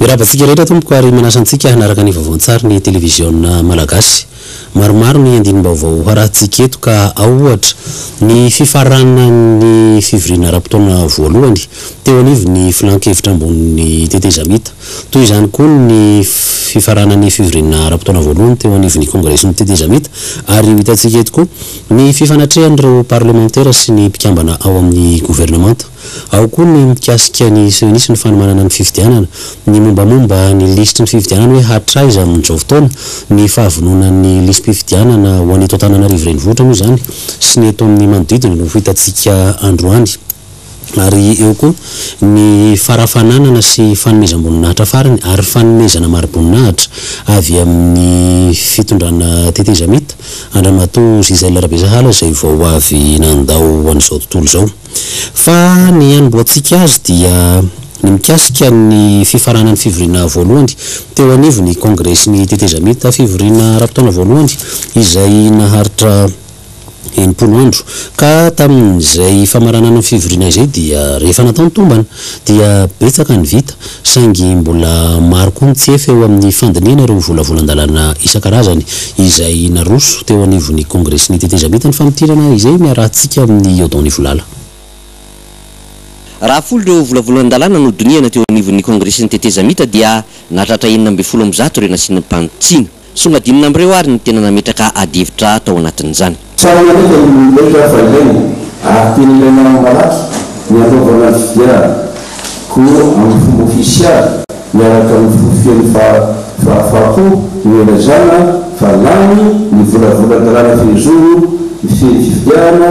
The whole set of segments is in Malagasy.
Mirava antsika rehetra tompoko ary manasa antsika hanaraka ny vaovaon-tsary ny televiziona malagasy. Maromaro ny andinim-baovao harahintsika eto ka ao ohatra, ny fifaranan'ny fivoriana ara-potoana voalohany, teo anivon'ny filan-kevitra ambonin'ny tetezamita. Toy izany koa ny fifaranan'ny fivoriana ara-potoana voalohany teo anivon'ny kongresin'ny tetezamita ary ho hitantsika eto koa ny fifanatrehan'ireo parlemantera sy ny mpikambana ao amin'ny governemanta. Ao koa ny mikasika ny sionisy ny fanomanana ny fifidianana, ny mombamomba ny lisitry ny fifidianana hoe hatraiza amin'izao fotoana, ny fahavononan'ny lisi-pifidianana ho an'eto Antananarivo Renivohitra moa izany sy ny eto amin'ny manodidina no ho hitantsika androany ary eo koa ny farafananana sy fanomezam-boninahitra farany ary fanomezana mari-boninahitra avy amin'ny fitondrana tetezamita Andramatoa Gisèle Rabesahala izay vao avy nandao an'izao tontolo izao. Fa ny hanombohantsika azy dia ny mikasika ny fifaranan'ny fivoriana voalohany teo anivon'ny Kongresin'ny Tetezamita, fivoriana ara-potoana voalohany izay naharitra enimpolo andro. Ka tamin'izay famaranana ny fivoriana izay dia rehefa natao ny tombana dia betsaka ny vita. Saingy mbola maro koa ny tsy efa eo amin'ny fandinihana ireo volavolan-dalàna isan-karazany izay naroso teo anivon'ny Kongresy ny tetezamita ny famintinana izay niarahantsika amin'i Odon Ivolala. Raha folo ireo volavolan-dalàna nodinihana teo anivon'ny Kongresy ny tetezamita dia nahatratra enina ambin'ny folo amin'ny zato ireo nasian'ny mpanitsiana. Songadinina amin'ireo ary ny tena nametraka adihevitra tao anatin'izany. Tsara marihina io indraika fa ilaina ary tena ilaina ara-malaky ny hanaovana ny fifidianana ho amin'ny fomba ofisialy miaraka amin'ny forofian'ny fahafaham-po ny hilazana fa lany ny volavolan-dalàna fehizoro mifehy ny fifidianana,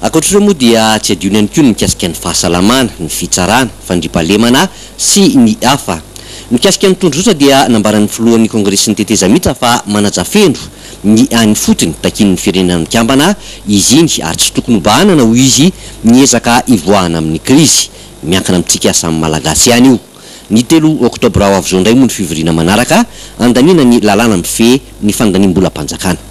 Ankoatra ireo moa dia tsy adino ihany koa ny mikasika ny fahasalamana, ny fitsarana, fandriampahalemana sy ny hafa. Mikasika ny tondrozotra dia nambaran'ny filohan'ny kongresin'ny tetezamita fa manaja feno ny any ifotony takian'ny firenena mikambana izy iny ary tsy tokony hobahanana hoy izy ny ezaka hivoahana amin'ny krizy. Miankina amintsika samy malagasy ihany io. Ny telo oktobra ho avy izao indray moa ny fivoriana manaraka handaniana ny lalàna mifehy ny fandaniam-bolam-panjakana.